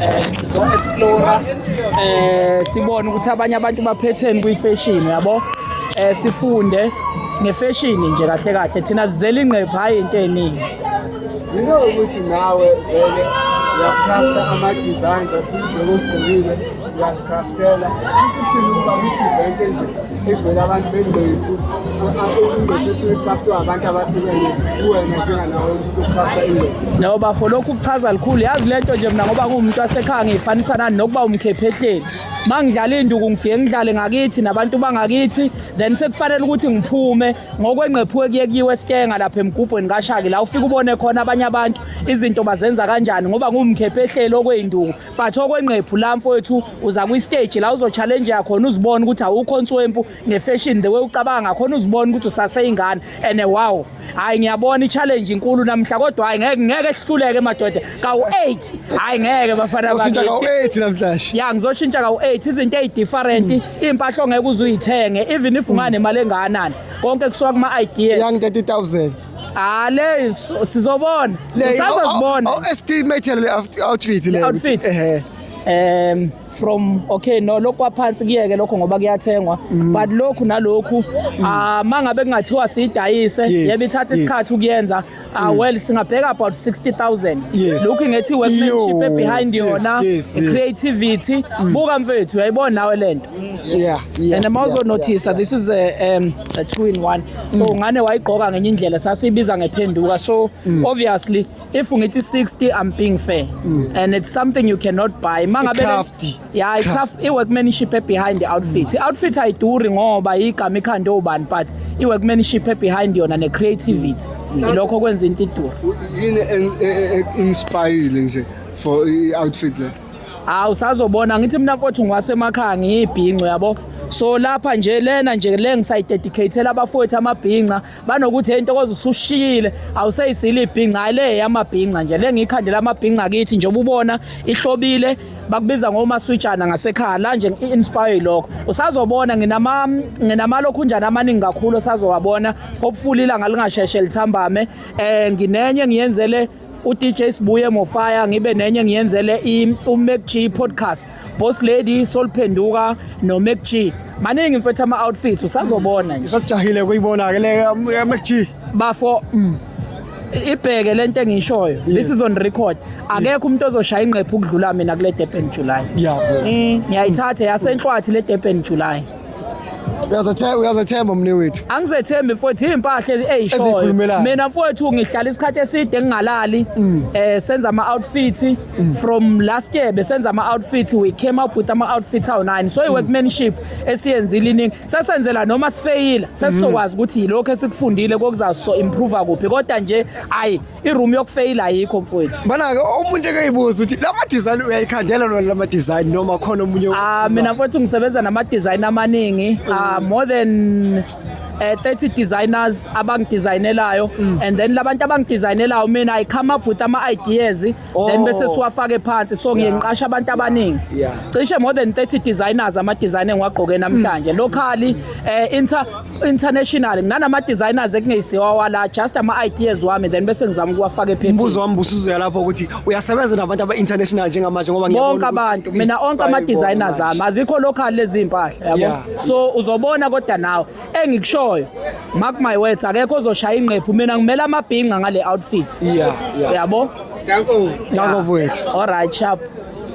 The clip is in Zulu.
um sizo-explora um sibone ukuthi abanye abantu baphetheni kwi-fashion yabo um sifunde ngefeshini nje kahle kahle thina sizela ingqepha hhayi into eningi yinto ukuthi nawe vele uyakrafta ama-designs ofisi lokugqokile ngiyazikhaftela isithini ukuba kwi-event enje evela abantu bendeku indoda esuke ikhaftwa abantu abahlukene kuwena njenganawo umuntu okhafta indoda no bafo lokhu kuchaza likhulu yazi le nto nje mna ngoba nguwumuntu wasekhaya ngiyifanisa nani nokuba umkhephehleni uma ngidlala induku ngifike ngidlale ngakithi nabantu bangakithi then sekufanele ukuthi ngiphume ngokwengqephuke kuye kuyiwe esikenga lapha emgubhweni kashaki la ufike ubone khona abanye abantu izinto bazenza kanjani ngoba ngumkhephehleli okweyinduku but okwenqephu la mfowethu uza kwi-stage la uzochallenge yakhona uzibone ukuthi awukho nswempu nefashion the way ucabanga ngakhona uzibone ukuthi usaseyingane and wow hhayi ngiyabona i-challenge inkulu namhla kodwa hhayi ngeke ngeke sihluleke madoda kawu-eight hhayi ngeke bafana ya ngizoshintsha kawu-eight izinto eyi-different hmm. iy'mpahla ongeke uze uyithenge even if unganemali engakanani konke kusuka kuma-ideas Ah le so- sizobona. Sazozibona. Oh, estimate le out- outfit le. Outfit. Ehhe. um from okay no lokhu kwaphansi kuyeke lokho ngoba kuyathengwa Mm. but lokhu nalokhu ah mangabe kungathiwa siyidayise Yes, yebe ithatha yes. Mm. isikhathi ukuyenza ah well singabheka about 60000 Yes. lokhu ngethi workmanship Yo, ebehind yes, yona yes, Mm. yes. creativity buka mfethu yayibona nawe lento yeah, yeah, and mawuzo yeah, notice yeah, this is a, um, a two in one so mm. ngane wayigqoka ngenye indlela sasiyibiza ngephenduka so mm. obviously if ngithi 60 i'm being fair mm. and it's something you cannot buy mangabe yeah i craft i workmanship behind the outfit mm. outfit ayiduri ngoba igama ikhanda obani but i workmanship behind yona ne creativity mm. lokho kwenza into idura yini inspire nje for i outfit le hawu usazobona ngithi mina mfowethu ngwasemakhaya ngiyibhinco yabo so lapha nje lena nje le ngisayidedicatela abafowethu amabhinca banokuthi hey ntokoza usushiyile awuseyisile ibhinca hayi le yamabhinca nje le ngiyikhandela amabhinca kithi njengoba ubona ihlobile bakubiza ngomaswitshana ngasekhaya la nje i-inspire lokho usazobona nginama nginamalokhunjana amaningi kakhulu osazowabona hopefully ilanga lingasheshe lithambame um nginenye ngiyenzele uDJ Sibuye Mofaya ngibe nenye ngiyenzele uMacG podcast Boss Lady Solphenduka noMacG maningi mfethu ama outfits usazobona nje usajahile kuyibona ke le um, MacG bafo mm. ibheke lento engishoyo this is on record akekho umuntu ozoshaya ingqephu ukudlula mina kule Durban July yabo mm. ngiyayithatha yasenhlwathi le Durban July Uyazethemba uyazethemba mne wethu. Angizethembi mfowethu impahla ezishoyo. Ezikhulumelayo. Mina mfowethu ngihlala isikhathi eside ngingalali mm. eh senza ama outfit mm. from last year besenza ama outfit we came up with ama outfits awu 9 so i mm. workmanship esiyenzile iningi sesenzela noma sifeyila sesizokwazi ukuthi yilokho esikufundile kokuzaso improve kuphi kodwa nje ayi iroom yokufeyila ayikho mfowethu Bana-ke umuntu ekeyibuza ukuthi la ma-design uyayikhandela lona la ma-design noma khona omunye Ah, okusizayo? mina futhi ngisebenza nama-design amaningi Ah, more than eh, 30 designers abangidesignelayo and then labantu abangidesignelayo mina i come up with ama-ideas Oh. then bese siwafake phansi so ngiye ngiqasha abantu abaningi Yeah. cishe more than 30 designers ama design engiwagqoke namhlanje Mm. locally eh inter international nganama designers ekungeyisiwa wala just ama ideas wami then bese ngizama ukuwafaka ephepheni umbuzo wami busuzoya lapho ukuthi uyasebenza nabantu aba-international njengamanje ngoba ngiyabona bonke ukuthi abantu mina onke ama i-style designers ibona ami azikho local lezi impahla Yeah. yabo so uzobona kodwa nawe engikushoyo mark my words akekho ozoshaya ingqephu mina ngimele amabhinca ngale outfit yeah, yeah. yabo danko danko wethu all right sharp